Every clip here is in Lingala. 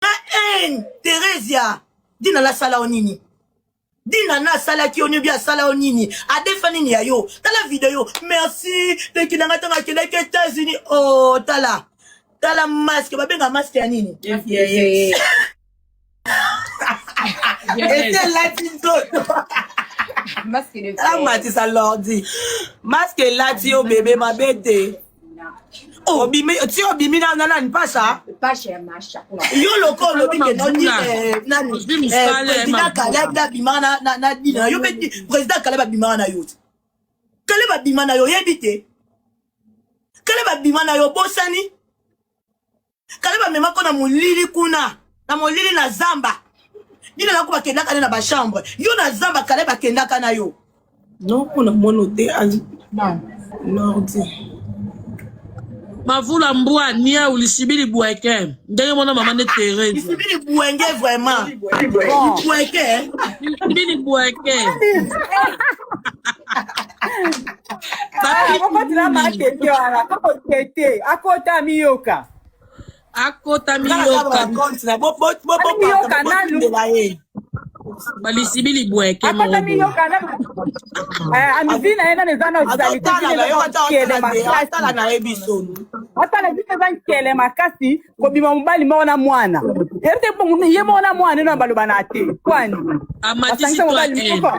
haine theresia dina nasala yo nini dina na asalaki yo niobi asala yo nini adefa nini ya yo tala video merci leki na ngai ntango akendaki etats-unis o oh, tala tala maske babenga maske ya nini etelati nzoto amatisa lordi maske elati yo bebe mabe te Oh, obimi ti obimi na na nani pasha pasha ya masha yo loko olobi ke nani eh, nani eh, president Caleb na bima na na na dina yo pe president Caleb abima na yo Caleb abima na yo yebi te Caleb abima na yo bosani kale bamemako na molili kuna na molili na zamba nini nako bakendaka ne na bachambre yo na zamba kale bakendaka na yo non mpo na mono te nordi mavula mbwa niau lisibili bweke ndenge mwana mama nde terese lisibili bwenge vraiment bweke lisibili bweke akotila matete wana koko tete akota miyoka akota miyoka miyoka nanu balisibi libweke akota miyoka nanu amivi na ye nanu eza na osaliteele makasi atala biso eza nkele makasi kobima mobali moko na mwana ete ye moko na mwana eno baloba na te kwani amatisi mobali moko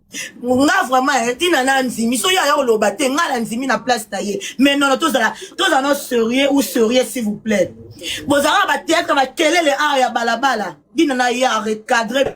nga vraiment eh, tina na ndimi soki aya koloba te nga na ndimi na place na ye mais nono tozala tozala no serieux ou serieux s'il vous plaît bozalaka bateatre bakelele awa ya balabala dina na ye arecadre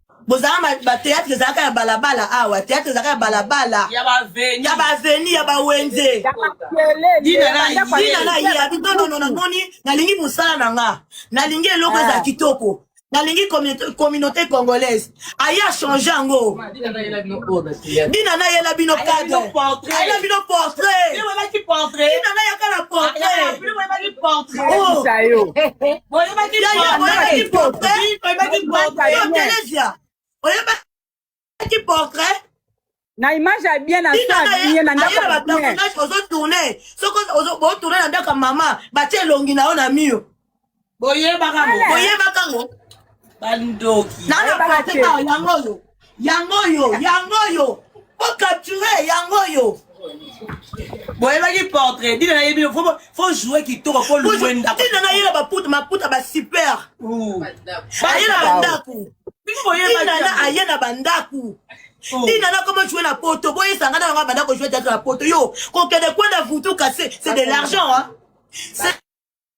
bozalaka ba théâtre ezalaka ya balabala awa ah, théâtre ezalaka ya balabala ya baveni ya bawenze dina na ye abi tonono namoni nalingi mosala na nga nalingi eloko eza ah. kitoko nalingi communauté congolaise aye achange yango dina nayela bino cadreayela bino portraitdina nayaka na portrait oyebaki portrait na image ya bien na soye na ndako ozo tourner soko ozo bo tourner na ndako mama batie elongi na yo na mur boyebaka boyebaka ngo bandoki na na portrait yango oyo yango oyo yango oyo o capture yango oyo boyebaki portrait dina nayebi fo joue kitoko fo loue ndakudina nayela baputa maputa basuper aye na bandako dinana aye na bandako dina na koma joue na poto boyesanga na yango abanda kojoue teatre na poto yo kokende kwenda vutu kase c'est de l'argent hein?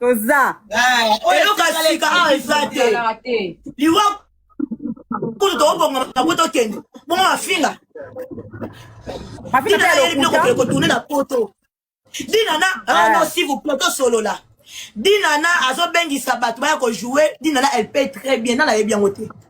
toza eloko ya sika awa eza te liwa kutu tokobonga bango tokende bongo mafinga dina ayeli biloko pele kotourne na poto dina na rano si vous plaît tosolola dina na azobengisa bato baya kojoue dina na elle paye très bien nana ayebi yango te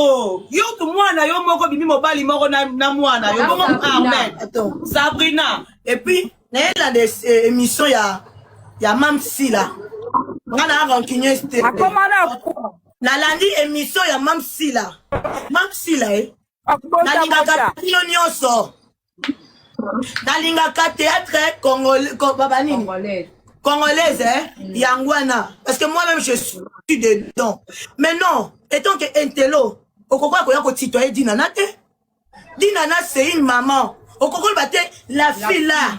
Oh, yo tu mwana yo moko bimi mobali moko na, na mwana yo bongo Ahmed Sabrina et puis nayelanda eh, émission ya ya Mam Sila nga na rancunieuse te nalandi émission ya Mam Sila Mam Sila eh nalingaka bino nyonso nalingaka théâtre congolais babanini congolaise hein? Mm. yango wana parce que moi-même je suis dedans mais non etant que intelo okokola koya kotitoye dinana te dinana c'est une maman okokola ba te la fille là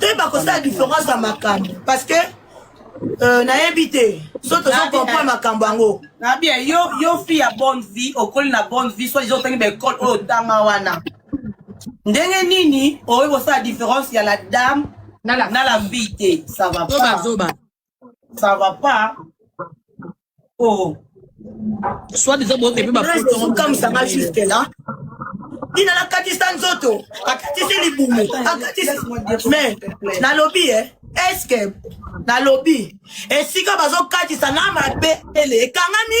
te bakosala différence ya makambo parce que Euh, nayebi te so tozokompre makambo yango na bien yo yo fille ya bonne vie okoli na bonne vie soit disant otangi baekole oyo otanga wana ndenge nini okoki kosala différence ya la dame na la fille te ça va pas ça va pas oh soit disant bo epe ba photo comme ça m'a juste là ina nakatisa nzoto akatisi libumu akatisi mais nalobi eh eske nalobi esika bazokatisa na mabe ele ekangami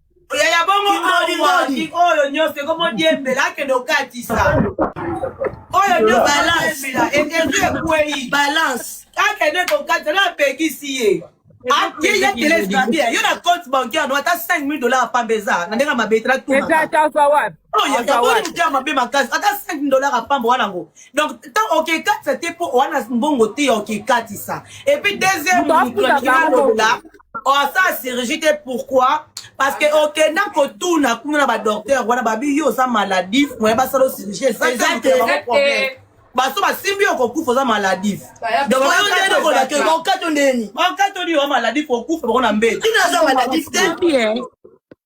yaya bongo ngodi oyo nyonso ekomodiembela akende okatisa oyo nde balance etezu ekwei balance akende kokatisa na apekisi ye akeya telese babia yo na compte bancaire no ata 5 mille dollar apamba eza na ndenge mabe etala tuoyakaboni moto ya mabe makasi ata 5 mille dollar apamba wana ngo donc tan okekatisa te mpo wana mbongo te ya okekatisa epuis deuxième moto alingi naloba asala oh, chirurgie te pourquoi parce que okenda kotuna kuna na badocteur wana babi yo oza maladif moye basala chirurgie ezate baso basimbi yo kokufa oza maladif okato ndeni okato ni oza maladif okufa bango na mbeli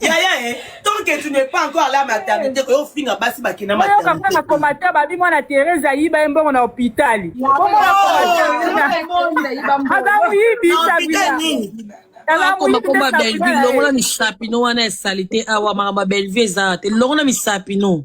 yaya e tant que tu n'es pas encore là maternité eh. oyo finga basi bakenda maternité na komata babi mwana Thérèse ayiba ye mbongo na hôpitali aza moyibi sabila komakomba bellevue longola misapi no wana ya salite awa makambo ya bellevue eza te longola misapi no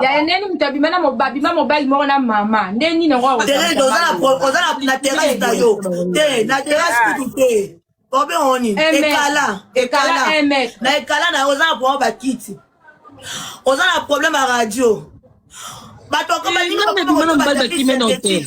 ya eneni moto abima na babima mobali moko na mama nde nini yango oza na terrasse na yo te na terrasse kutu te obe oni ekala ekala na ekala na yo oza na problème bakiti oza na problème ya radio bato akobalinga mobali bakime na hotel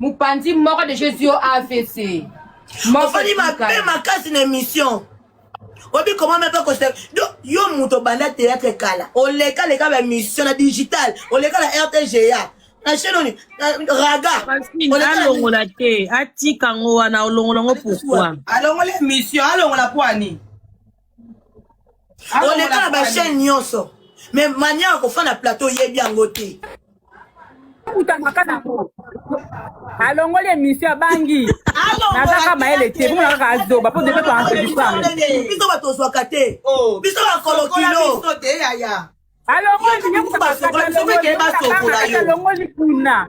mopanzi moko de jesus yo avc ofandi mabe makasi na émission obi koma me mpe koseka do yo moto obanda théâtre kala oleka leka ba émission na digital oleka na rtga na chaîne oni raga alongola te atika ngo wana olongola ngo pourquoi alongola émission alongola poani oleka na bachaine nyonso mais mania akofa na plateau oyebi yango te akutanaka nango alongoli emission abangi nazaka mayele te komona kaka azoba mpo depe toanbiso bato ozwaka te biso bakolokilo alongoli kuna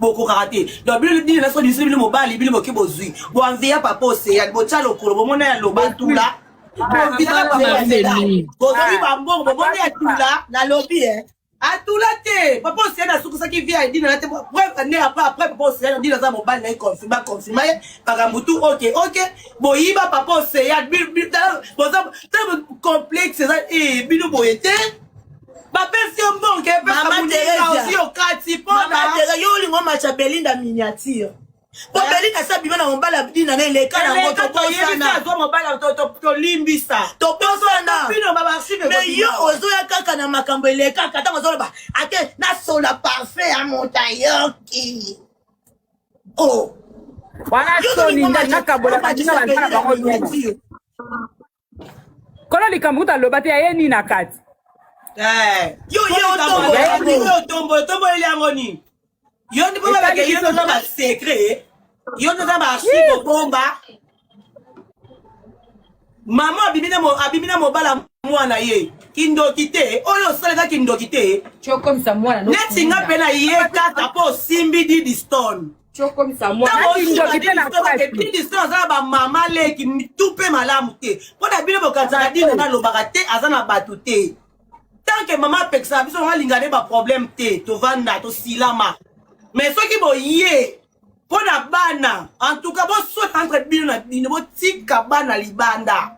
bokokaka te donc bino bino naso biso bino mobali bino boke bozwi boanveya papa oseyan botya lokolo bomona ya loba tula bovitaka papa oseyan bozwi bambongo bomona ya tula nalobi e atula te papa oseyan asukisaki vie ya edina na te preuve nde après après papa oseyan edina aza mobali na ye confirme baconfirma ye makambo tu oke oke boyiba papa oseyan boza complexe eza bino boye te bapesi yo mbongo epesaosi okati mponatere yo olingo macha belinda miniature po eh? belinda sa bima na mobala dina na eleka nango tobosanaolimbisa tobosaname yo ozoya kaka na makambo elekaka ntango ozoloba ate nasola parfum ya moto ayoki o oh. wana soni ngai nakabola bango kono likambo kuta loba te aye nini na kati eh, yo ye otombo otomboleli yango nini yo ndi mpo babake yo noza basecret yo noza baarchive obomba mama abimi na mobala mwana ye kindoki te oyo osalaka kindoki te neti nga mpe na ye kaka mpo osimbi didistone tokomisa mwanandoki mpe na plasdistin aza na bamama leki mitu mpe malamu te mpo na bino bokanisaka dina nga alobaka te aza na bato te tanke mama apekisaka biso nanga linga nde baproblème te tovanda tosilama mais soki boye mpo na bana en tout cas bosota entre bino na bino botika bana libanda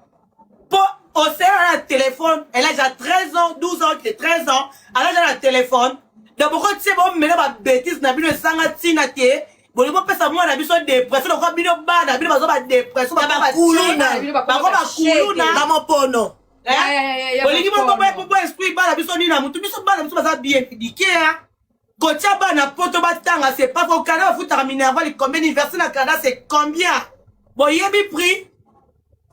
po osela na telefone elle a déjà 13 ans 12 ans que 13 ans elle a déjà na telefone donc bokotie bomela babétise na bino ezanga ntina te bolingi bopesa mwana na biso depression lokola bino bana bino baza badepression bakuluna bango bakuluna bamopono bolingi boboboesprit bana biso nini na motu biso bana biso baza bien édike kotya bana poto batanga c'est pas au canada bafutaka minerval combien université na canada c'est combien boyebi prix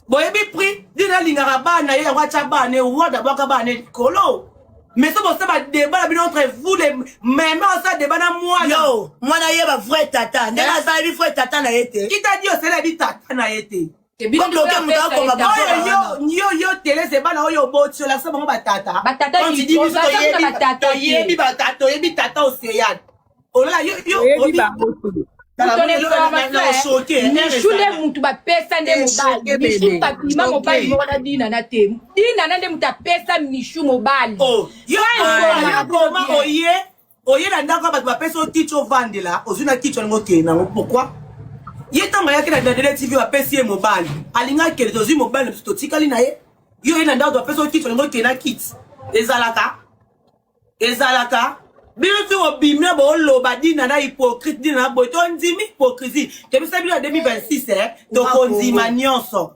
boyebi prix dine alingaka bana ye yango atya bana ye wa dabwaka bana ye likolo mais so bosa badeba na bino entre vous le meme osa deba na mwana yo mwana ye ba vrai tata ndenge aza yebi vrai tata na ye te kita di osala yebi tata na ye te yo telese bana oyo oboti olakisa bango batata toyebi batata toyebi tata oceane olola yo mishule mutu bapesa nde mobali mishu bakima mobali moko na dinana te dinana nde mutu apesa mishu mobali oye na ndako ya bato bapesi yo kiti ovandela ozwi na kiti olingi okende nango pourkui ye ntango ayaki na dandele tv bapesi ye mobali alingi akende tozwi mobali na biso totikali na ye yo oye na ndako bapesi yo kiti olingi okende na kiti ezalaka ezalaka bino ti obimi na boloba dina na hypocrite dina na boye tondimi hypocrisie tobisa bino ya 2026 eh? tokondima nyonso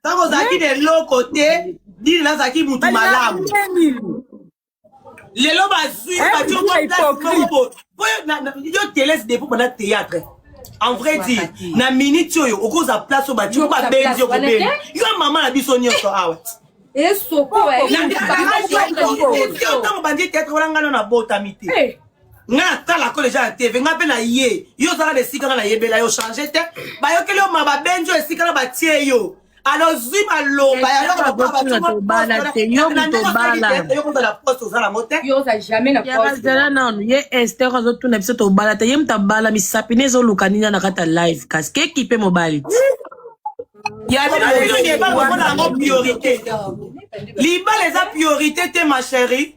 ntango ozalaki na eloko te dini nazalaki motu malamu lelo bazwi eh, bati okoplasimoko yo telese depo banda théâtre en vrai dire na minute oyo okoza place oyo bati babenzi okobeni yo mama na biso nyonso awa esokotango bandi théâtre wana ngano nabotami te eh. nga natala ko deja na tv nga mpe na ye yo ozaka na esika nga nayebela yo change te bayokeli yo ma babenzi yo esika na batie yo alozwi maloba ya loko bapabayokozala poste oza nango te bazala nanu ye ester azotuna biso tobala te ye moto abala misapi ne ezoluka nini na kati ya live kasi keki mpe mobali te yango priorité libala eza priorité te ma chérie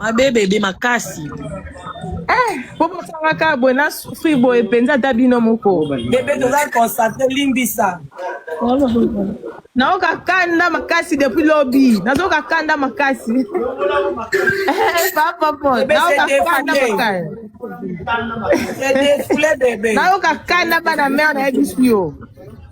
mabe bebe makasi eh, po bosangaka boye na souffrir boye mpenza ata bino moko bebe toza constate limbisa naoka kanda makasi depuis lobi nazoka kanda makasi eh, papa po naoka kanda makasi naoka kanda bana mare nayebisi yo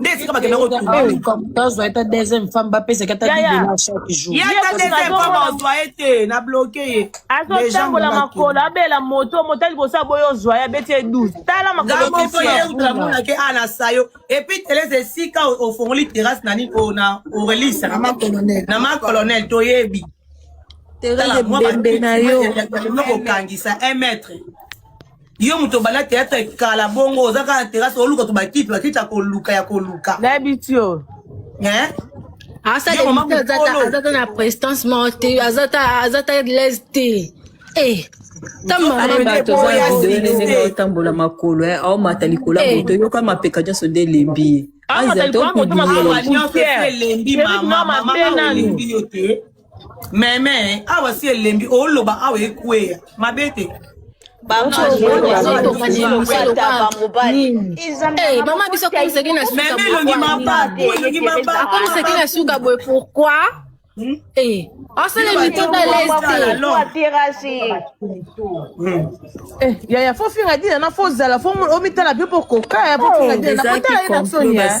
nde esika bakenda kotuzwa eta deuxième femme bapesaki ata didela chaque jour ye ata deuxième femme ozwa ye te na bloke ye azotambola makolo abela moto moto ya liboso aboyi ozwa ye abeti ye 12 tala makolomoto ye utala monake ana sayo epuis telese esika ofongoli terrasse na nini oyo na orelisa na ma colonel toyebi terrasse ebembe na yo okangisa un mètre yo moto obanda teatre kala bongo oza kaka na terase oluka to bakiti bakiti ya koluka ya koluka nayebi ti yo azata na prestance moko te azata lese te eh, otambola makolo eh, aomata likolo ya eh. moto yoka mapeka nyonso nde elembi ye ah, aza to kubiye meme awa si elembi oloba awa ekweya mabe te mama biso akomisaki na sukaomisaki na suka boye pourkoi hmm? eh, asala mitota yaya fo finga dina na fo zala fo omitala mpe mpo koka ya fo finga dina na kotala ye na soni ya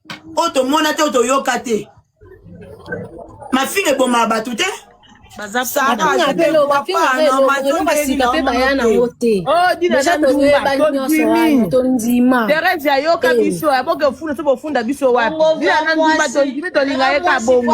oyo tomona te oyo toyoka te mafinga ebomaka bato te terese ayoka biso aboke ofunda so bofunda biso wapi ndumba tondimi tolinga ye ka bongo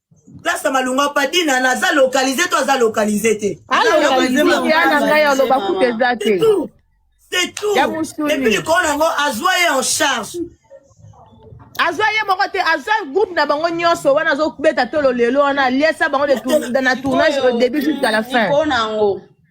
place ya malonga padina naza localise to aza localise te c'est tout epuis likolo na yango azwa ye en charge azwa ye moko te azwa groupe na bango nyonso wana azobeta tolo lelo wana aliesa bango na tournage au début jusqu'à la fin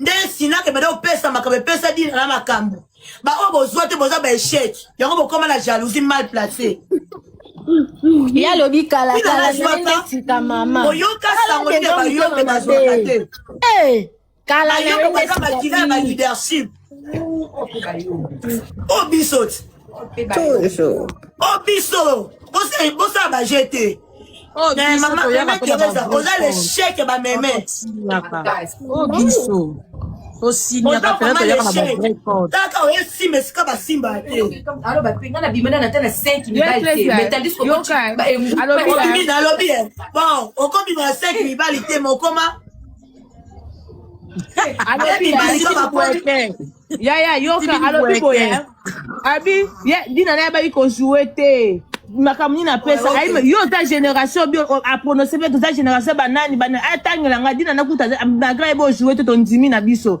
nde sinaka ebanda kopesa makambo epesa dina na makambo baoyo bozwa te boza baechec yango bokoma na jalousie mal place ye alobi kalakalatika mama oyoka sango nde bayoke bazwaka te kala na ye nde bakila ya baleadership o biso ti o biso bosala baje te Oh, mais mama meme teresa oza l'échec ya bameme o biso tosinyaka pena toyaka na bavrai code kaka oye simba esika basimba te alobi nalobi bon okobima na 5 mibali te mokoma alobi yaya yoka alobi boye hein. abi ye dina naye abaki kojoue te makambo nini apesa ayima yo oza génération bio aprononce mpe toza génération banani banani atangela ngai dina nakuta malgré ayeba ojoue te tondimi na biso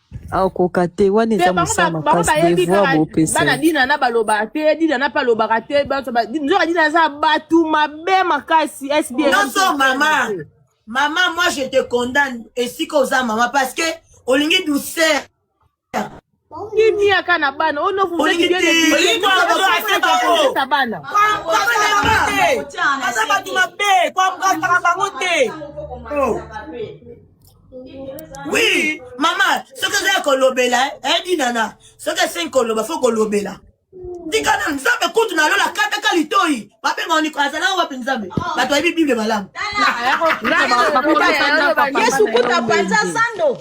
akoka te wana eza mosala makasi devoir bopesa bana dina na balobaka te dina na mpe alobaka te nzoka dina aza bato mabe makasi sbnyonso mama mama moi je te condamne esika oza mama parce que olingi douceur kimia ka na bana ono vuzaiiaza bana aza bato mabe kwamkataka bango te Oui, maman, ce que j'ai kolobela, hein, dit nana, ce que c'est koloba, faut kolobela. tika na nzambe kutu na lola kataka litoi babenga niko azala wapi nzambe oh. bato ayebi bible malamu yesu kutu apanza zando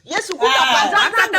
yesu kutu ah, apanza zando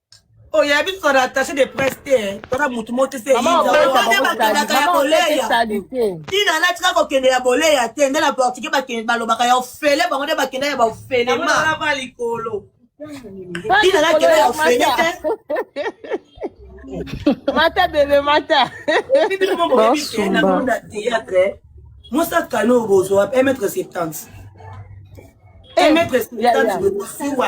oyo ya biso na attaché de presse te toza motu moko teseakendaka ya boleya tina natika kokende ya boleya te nde na portugais balobaka ya ofele bango nde bakenda ya baofelema likolo tina nakenda ya ofele te mata bebe mata na théâtre mosa kano oyo bozwa emetre septante emetre septante bosuwa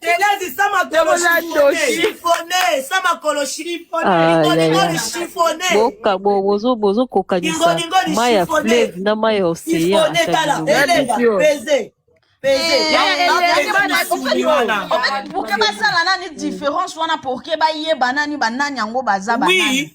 Telezi sama kolo chifone, sama kolo chifone, chifone. Boka bo bozo bozo kokanisa mai ya fleuve na mai ya océan. Peze. Pourquoi basala nani différence wana pourquoi bayeba nani banani yango baza banani?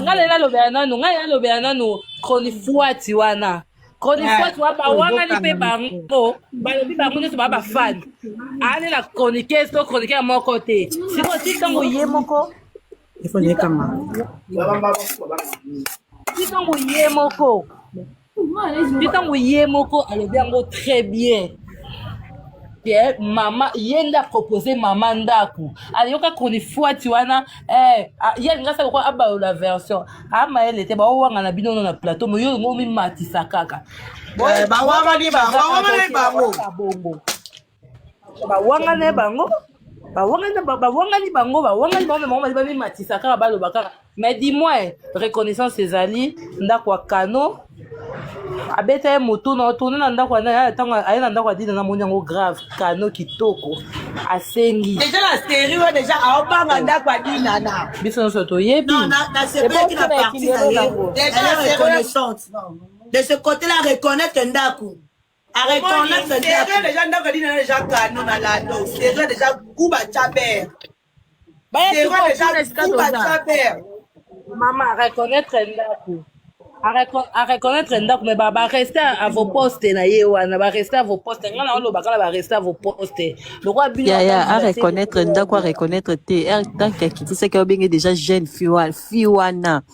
nga lela lobela nanu nga lela lobela nanu chronifuati wana chronifuati wa bawangani mpe bango balobi bango nyonso baa bafani aane na chroniqueuse to chroniqueur moko te sikoyo ti ntango ye moko ti ntango ye moko mpe ntango ye moko alobi yango très bien ke mama ye nde apropose mama ndako ayoka chronifuati wana eh, ye alinga sa lokola abalola version amayele te baowangana bino no na plateau moyo olingo omimatisa kaka eh, bawangani bango bawangana ye bango bawangani bawangani bango bawangani bango me bango bali bamimatisa kaka baloba kaka mais du moins reconnaissance ezali ndako ya kano abeta ye motu na otourne na ndako ntango aye na ndako adina na moni yango grave kano kitoko asengi deja na seri oyo deja aobanga ndako adinana biso nyonso toyebi nasepelaki na parti na ye deja na reconnaissance de ce côté là reconnaître ndako A reconnaître serre déjà ndako dina déjà canon na lando serre déjà kuba chaber serre déjà kuba chaber mama a reconnaître ndako a reconnaître ndako mais ba ba rester à vos postes na ye wana ba rester à vos postes ngana oloba kala ba rester à vos postes lokola bino ya ya a reconnaître ndako a reconnaître te tant qu'à quitter c'est que obenge déjà jeune fille wana fille wana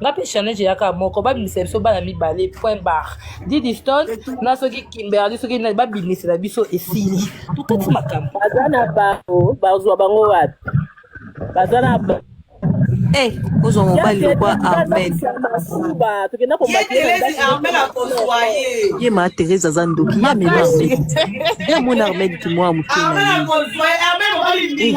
nga mpe challenge eyaka moko babimisa biso bana mibale point bar didiston na soki kimberli soki nani babimisela biso esili tokati makambo baza na bango bazwa bango wapi baza na Eh, ozwa mobali lokwa armel ye ma therese aza ndoki ye amema armel ye amona armel kimwa moke na ye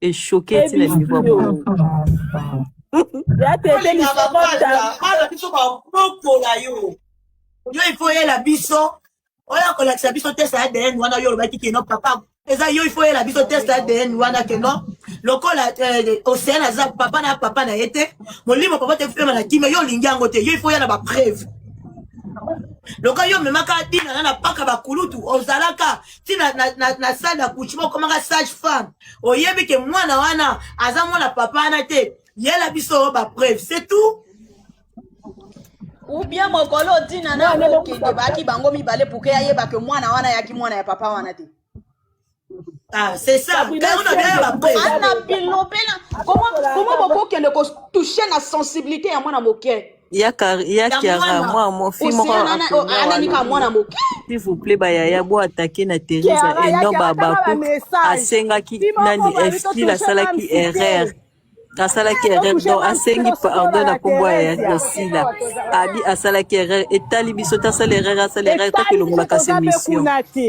eshoke ti na niveau ya boye bana biso babokola yo yo ifo oyela biso oya kolakisa biso test ya adn wana yo olobaki kino papa eza yo ifo oyela biso test ya adn wana kino lokola eh, ocean aza papa na papa na ye te molimo papa te kupema na kimia yo olingi yango te yo ifo oya na bapreuve lokola yo omemaka dinana na paka bakulutu ozalaka ti na, na, na, na salle d'accouchement okomaka sage femme oyebi ke mwana wana aza mwana papa wana te yela biso bapreuve c'est tout ubien mokolo otina na okende baki bango mibale puke ayeba ke mwana wana yaki mwana ya papa wana te Ah, c'est ça. Comment bokokende kotouche na sensibilité ya mwana moke ya Kar- ya ya kiara mwana mwa mo fi moko oceana na- o- akoya wana ananika mwana moke s'il vous plaît bayaya bo atake na teresa kiara et ya non kiara tanga babakuk bamessage asengaki fi moko nani boyebi esti totushe asalaki mamsi te erreur asalaki erreur totushe donc mamsi te asengi tosikola pardon na na nkombo ya ya- teresia ya sila abi asalaki erreur etali biso te asala erreur asala erreur etali biso takolongolaka toza mpe semission kuna te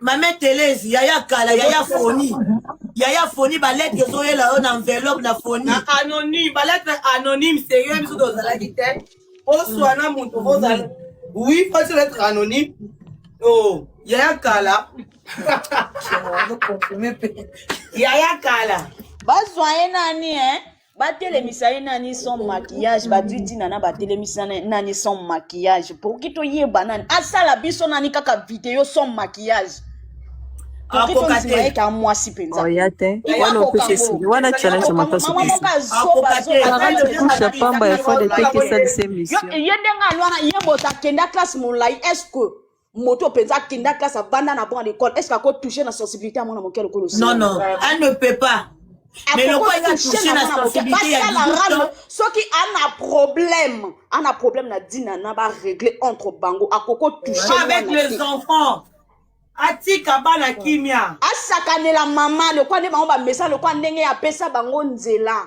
mame telesi yaya kala yaya foni yaya foni baletre ezoyela yo na enveloppe na foni na anonyme baletre anonyme serieux biso tozalaki te oswa na moto ozala oui fati letre anonyme o oh, yaya kala yaya kala bazwa ye nani eh? batelemisa ye nani sans maquillage bazwi ntina na batelemisa nani sans maquillage pourki toyeba nani asala biso nani kaka video sans maquillage akokateeka mwasi mpenzaoya te wana opekisi wana challenge makasi kusha pamba ya fode te kesalisa emission ye ndenge alwana ye moto akenda classe molai est ce que moto mpenza akenda classe avanda na bon à l'école est ce que ako touche na sensibilité ya mwana moke lokola osi non non elle ne peut pas mais lokola eza touche na sensibilité ya rame soki ana problème ana problème na dina na ba régler entre bango akoko touche avec les enfants atika bana kimia asakanela mama lokola nde bango bamesa lokola ndenge apesa bango nzela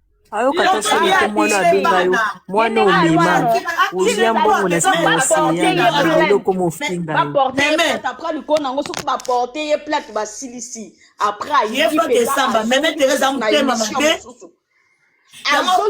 ayoka ta soni te mwana abenga yo mwana omema ozia mbongo na nsima oseya na lelo okoma ofinga ye baporte ye plate apres likolo na yango soki baporte ye plate basilisi apres ayeyefakesamba meme teresa motema mabe yango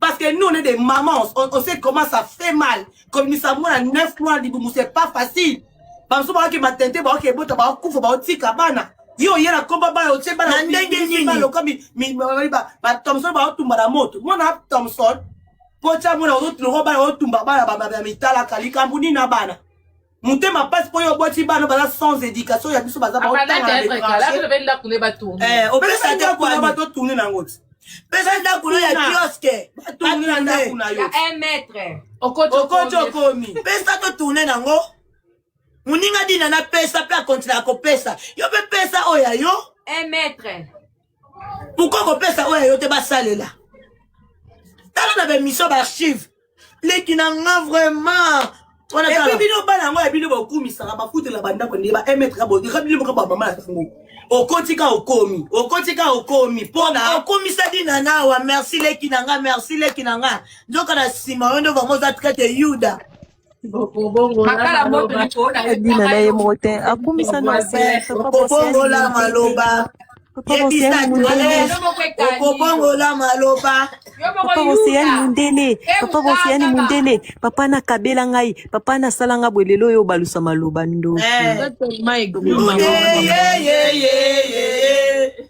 Parce que nous, on est des mamans. On, on sait comment ça fait mal. Comme nous savons, à 9 mois, Liboumou, c'est pas facile. Parce que je suis tenté, je suis bota, je suis bota, je suis bana. Yo, y'a la combat, ba, yo, tse, ba, la, ndenge, nini. Ba, loka, mi, mi, ba, ba, ba, Thompson, ba, tumba, la, moto. Moi, na, Thompson, pocha, moi, na, ozo, tlo, ba, yo, tumba, ba, la, ba, ba, ba, mitala, kali, kambu, ni, na, bana. motema mpasi mpo yo oboti bana baza sans éducation ya biso baza baotangaaobelesa ndako ya bato tourne nango ti pesa ndako na ya kioske batourne na ndako na yo okoti okomi pesa totourne nango moninga dina napesa mpe akontinaka kopesa yo mpe pesa oyo ya yo pourkoi kopesa oyo yo te basalela tala na bemission baarchive leki na nga vraiment epi bino bana yango ya bino bakumisaka bafutela bandako ndenge ba emetre bodika bino moka bamama na bango okoti ka okomi okoti ka okomi mpona okomisa dina nawa merci leki na nga merci leki na nga nzoka na nsima yo nde bango oza traite yuda ebima na ye moko te akumisa na se okobongola maloba okobongola maloba papa boseyani mondele papa boseyani mondele papa nakabela ngai papa nasala ngai boye lelo oyo obalusa maloba ndoki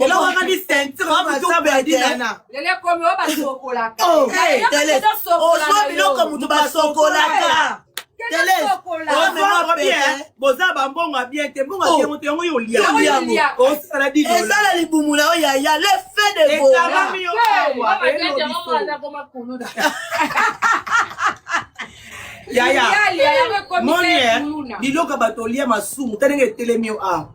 elokokani sentireozwa biloko moto basokolaka boza bambongo ya bien te mbongo ya moto yango yo oliaosala ezala libumu na yo yaya le fe de ekabami yo awa yaya moni biloko bato olia masumu ta ndenge etelemi yo awa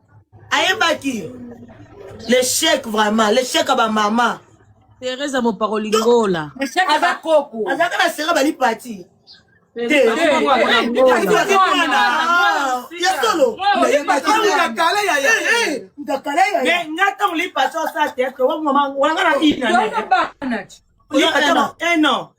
ayebaki l'échec vraiment l'échec ya bamama teresa moparoli ngola aza koko azalaka na sera bali pati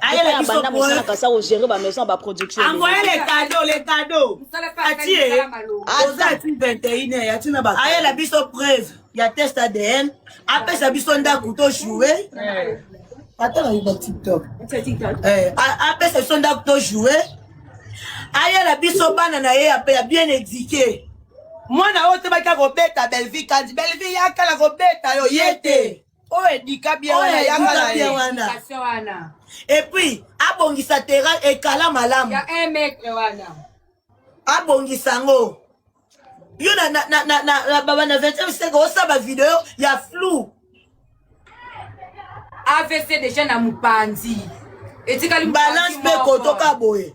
ayela biso banda mosala kasa ko gérer ba maison ba production angoya le cadeau le cadeau atie oza ati 21 heures ati na ba ayela biso preuve ya test ADN apesa biso ndako to jouer ata na yuba TikTok eh apesa biso ndako to jouer ayela biso bana na ye ya bien éduquer mwana oyo tobaki akobeta belvie kandi belvie yakala kobeta yo ye te oyo edika bia wana yanga na ye wana et puis abongisa terrain ekala malamu ya un mètre wana abongisa yango yo na na na na na baba na 20e siècle osaba video ya flou avc déjà na mopanzi etikali balance mpe kotoka boye